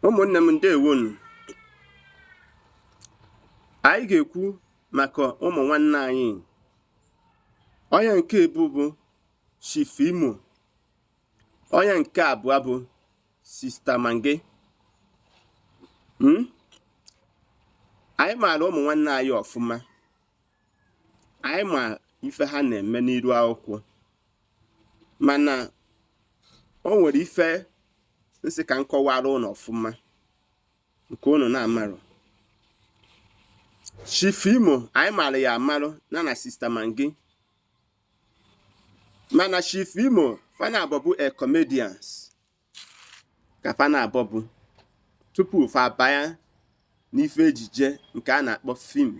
ụmụnne m ndewonu anyị ga-ekwu maka ụmụ nwanne anyị onye nke mbụ bụ Chief Imo onye nke abụọ bụ Sister Maggi hmm? anyị maara ụmụ nwanne anyị ọfụma anyị ma ife ha na-eme n'iru akwụkwọ mana o nwere ife m sị ka m kọwara unu ọfụma nke unu na-amarụ Chief Imo anyị mara ya amarụ na na Sister Maggi mana Chief Imo fa naabọ bụ comedians ka fa naabọ bụ tupu fa abaya n'ife ejije nke a na-akpọ film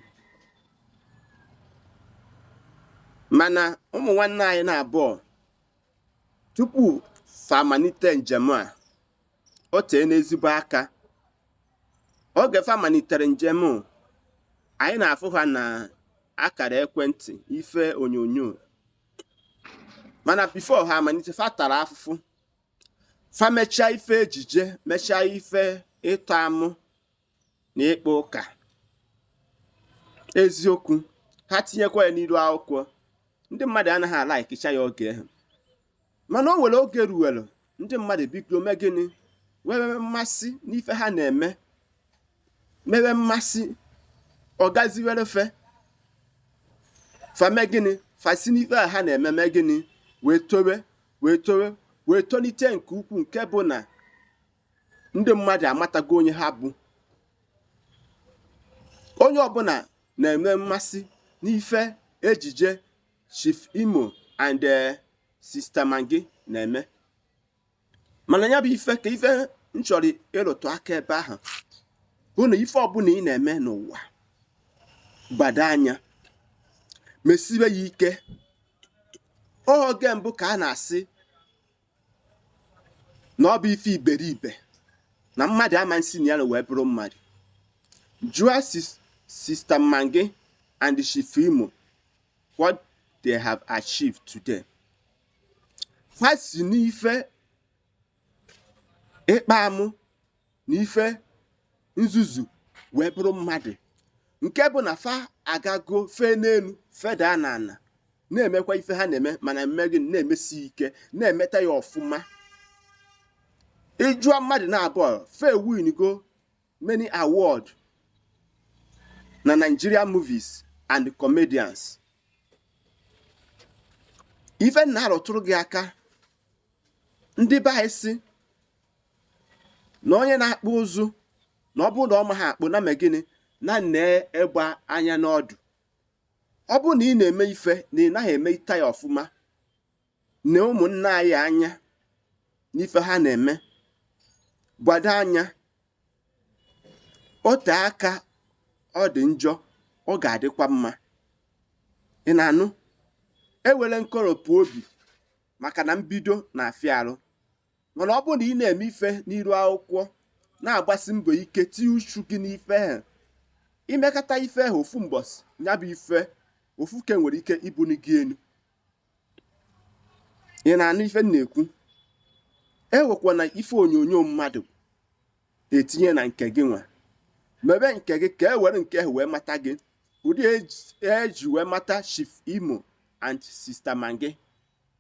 mana ụmụ nwanne anyị naabọ tupu fa amalite njem a o teena ezigbo aka oge fa malitere njem anyị na-afụ ha na akara ekwentị ife onyonyo mana before ha amalite fa tara afụfụ fa mechaa ife ejije mechaa ife ịtọ amụ na ịkpa ụka eziokwu ha tinyekwa ya n'iru akwụkwọ ndị mmadụ anaghị a-likecha ya oge ahụ mana o nwere oge ruwere ndị mmadụ bido mee gịnị nwee mmasị n'ife ha na-eme nwewe mmasị ọ gaziwere fa fa mee gịnị fa si n'ife a ha na-eme mee gịnị wee tolite nke ukwuu nke bụ na ndị mmadụ amatago onye ha bụ onye ọbụla na-enwe mmasị n'ife ejije Chief Imo and eh, Sister Maggi na-eme mana ya bụ ife ka ife m chọrọ ịrụtụ aka ebe ahụ bụ na ife ọbụla ị na-eme n'ụwa gbado anya mesibe ya ike oge mbụ ka a na-asị na ọ bụ ife iberibe na mmadụ ama esi na ya wee bụrụ mmadụ jụọ Sister Maggi and Chief Imo what they have achieved today ha si n'ife ịkpa amụ na ife nzuzu wee bụrụ mmadụ nke bụ na fa agago fee n'elu feda n'ana na-emekwa ife ha na-eme ma na-eme gịnị na-emesi ike na-emeta ya ọfụma ị jụọ mmadụ naabọ fa ewinigo many award na Nigeria movies and comedians ife m na-arụtụrụ gị aka ndị be anyị si na onye na-akpụ ụzụ na ọ bụrụ na ọ maha akpụ nya mee gịnị nya nee egbe anya n'ọdụ ọ bụrụ na ị na-eme ife na ị naghị emeta ya ọfụma nee ụmụnna anyị anya n'ife ha na-eme gbado anya o te aka ọ dị njọ ọ ga-adịkwa mma ị na-anụ enwene nkoropụ obi maka na mbido na-afịa arụ mana ọ bụrụ na ị na-eme ife n'iru akwụkwọ na-agbasi mbọ ike tinye uchu gị n'ife ahụ i mekata ife ahụ ofu mbọsị ya bụ ife ofu ke nwere ike ibuni gị enu ị na-anụ ife m na-ekwu ewekwana ife onyonyo mmadụ etinye na nke gị nwa mebe nke gị ka e were nke ahụ wee mata gị ụdị e ji wee mata Chief Imo and Sista Maggie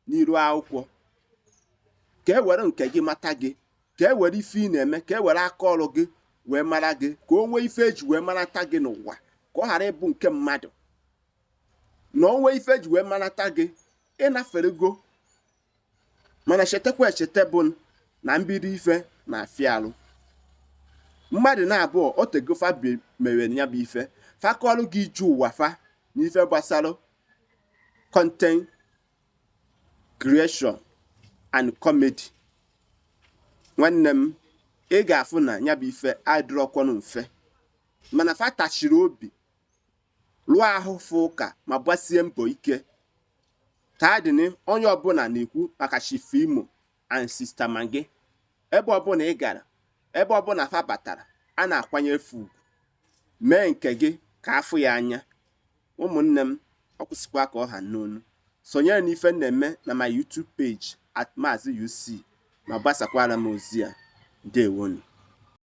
n'iru akwụkwọ ka e were nke gị mata gị ka e were ife ị na-eme ka e were aka ọrụ gị wee mara gị ka o nwee ife e ji wee marata gị n'ụwa ka ọ ghara ịbụ nke mmadụ na o nwee ife e ji wee marata gị ị naferego mana chetakwa echeta bụ na mbido ife na-afịa alụ mmadụ naabụọ o tego fa mere ya bụ ife fa kọọlụ gị ije ụwa fa na ife gbasara content creation and comedy nwanne m ị ga-afụ na ya bụ ife adịrọkwanụ mfe mana fa tachiri obi lụọ ahụfụ ụka ma gbasie mbọ ike taa dịnụ onye ọbụla na-ekwu maka Chief Imo and Sista Maggie ebe ọbụla ị gara ebe ọbụla fa batara a na-akwanyere fa ugwu mee nke gị ka a fụ ya anya ụmụnne m ọ kwụsịkwa ka ọ ha n'onu sonyere n'ife m na-eme na my YouTube page at Mazi UC ma gbasakwara m ozi a ndewonụ